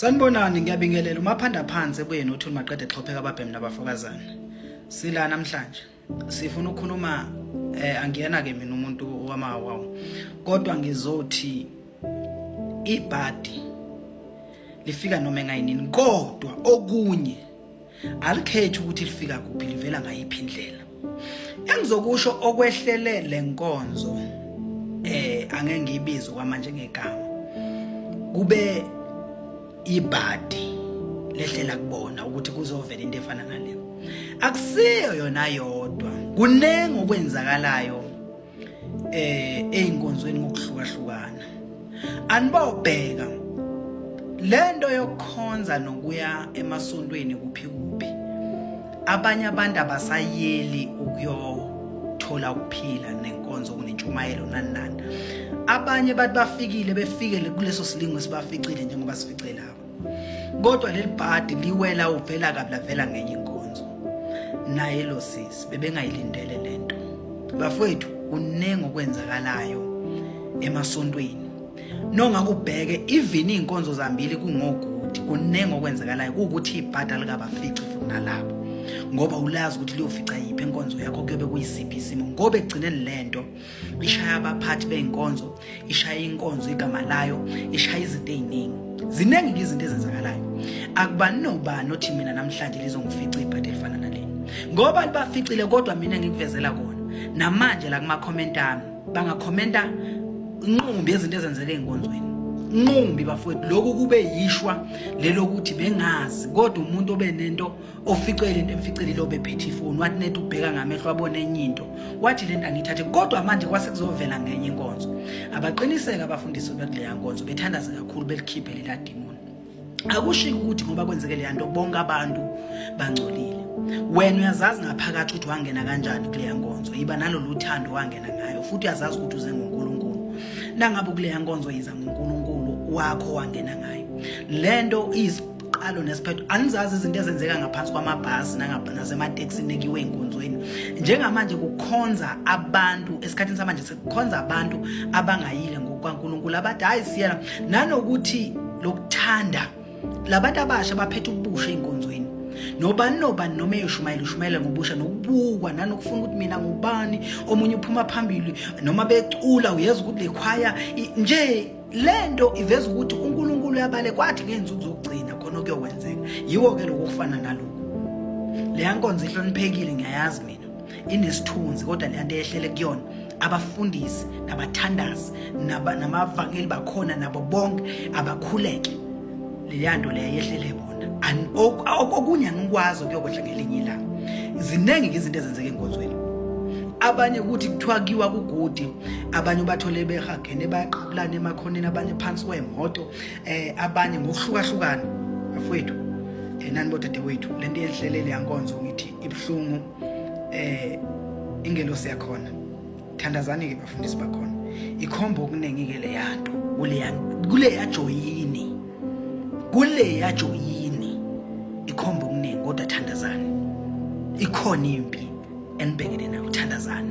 Sanibonani ngiyabingelela umaphanda phansi ebuyeni uthuni maqede xhopheka ababhemi nabafokazana. Sila namhlanje sifuna ukukhuluma eh angiyena ke mina umuntu wamawawu kodwa ngizothi ibhadi lifika noma engayinini kodwa okunye alikhethi ukuthi lifika kuphi livela ngayiphi indlela engizokusho okwehlele lenkonzo eh angeke ngiyibize kwamanje ngegama kube ibhadi lehlela kubona ukuthi kuzovela into efana naleyo akusiyo yona yodwa kuningi okwenzakalayo eh einkonzweni ngokuhlukahlukana anibawubheka lento yokukhonza nokuya emasontweni kuphi kuphi abanye abantu abasayeli ukuyothola ukuphila nenkonzo kunentshumayelo nani nani abanye bathi bafikile befikele kuleso silingo sibaficile njengoba sifice lapho kodwa leli bhadi liwela uvela kabi lavela ngenye inkonzo naye lo sisi bebengayilindele le nto bafowethu kuningi okwenzakalayo emasontweni nongakubheke even iy'nkonzo zambili kungokuthi kuningi okwenzakalayo kuwukuthi ibhada likabafici futhi nalabo ngoba ulazi ukuthi liyofica yiphi enkonzo yakho kuyobe kuyisiphi isimo ngoba ekugcineni le nto ishaya abaphathi bey'nkonzo ishaya inkonzo igama layo ishaya izinto ey'ningi ziningi-ke izinto ezenzakalayo akubani nobani othi mina namhlanje lizongifica ibhadi elifana naleni ngoba libaficile kodwa mina ngikuvezela kona namanje la kuma-comment ami bangakhomenta inqumbi yezinto ezenzeka ey'nkonzweni nqumbi bafowethu lokhu kube yishwa lelokuthi bengazi kodwa umuntu obe nento oficwe lento emficele lo bephethe ifoni wathi net ubheka ngamehlo abone enye into wathi lento angithathe kodwa manje kwase kuzovela ngenye inkonzo abaqiniseka abafundisi bakuleya nkonzo bethandaza kakhulu belikhiphe lela demon akushiki ukuthi ngoba kwenzeke leya nto bonke abantu bangcolile wena uyazazi ngaphakathi ukuthi wangena kanjani kuleya nkonzo yiba nalolu thando wangena ngayo futhi uyazazi ukuthi uze ngonkulunkulu nangabe kuleya nkonzo yiza ngonkulunkulu wakho wangena ngayo le nto iyisibhalo qalo nesiphetho anizazi izinto ezenzeka ngaphansi kwamabhasi nasemateksini ekiwe enkonzweni njengamanje kukhonza abantu esikhathini samanje sekukhonza abantu abangayile ngokwankulunkulu abathi hayi siyena nanokuthi lokuthanda labantu abasha baphethe ubusha ey'nkonzweni nobani nobani noma eyoshumayela ushumayela ngobusha nokubukwa nanokufuna ukuthi mina ngubani omunye uphuma phambili noma becula uyeza ukuthi le khwaya nje le nto iveza ukuthi unkulunkulu yabale kwathi ngey'nsuku zokugcina khona okuyokwenzeka yiwo-ke lokhu okufana nalokhu leya nkonzo ihloniphekile ngiyayazi mina inesithunzi kodwa leya nto eyehlele kuyona abafundisi nabathandazi namavangeli bakhona nabo bonke abakhuleke leya nto leya yehlele bona okunye angikwazi okuyokwehla ngelinye ilanga ziningi-ke izinto ezenzeka enkonzweni abanye ukuthi kuthiwa kiwa kugudi abanye ubathole behagene bayaqabulana emakhoneni abanye phansi kwemoto um eh, abanye ngokuhlukahlukana bafowethu um eh, nani bodadewethu le nto yenhlelele yankonzo ngithi ibuhlungu um eh, ingelosi yakhona thandazani-ke bafundisi bakhona ikhomba okuningi-ke leya nto kuleya joyini kuleya joyini ikhomba okuningi kodwa thandazani ikhona impi enibhekene nayo thandazani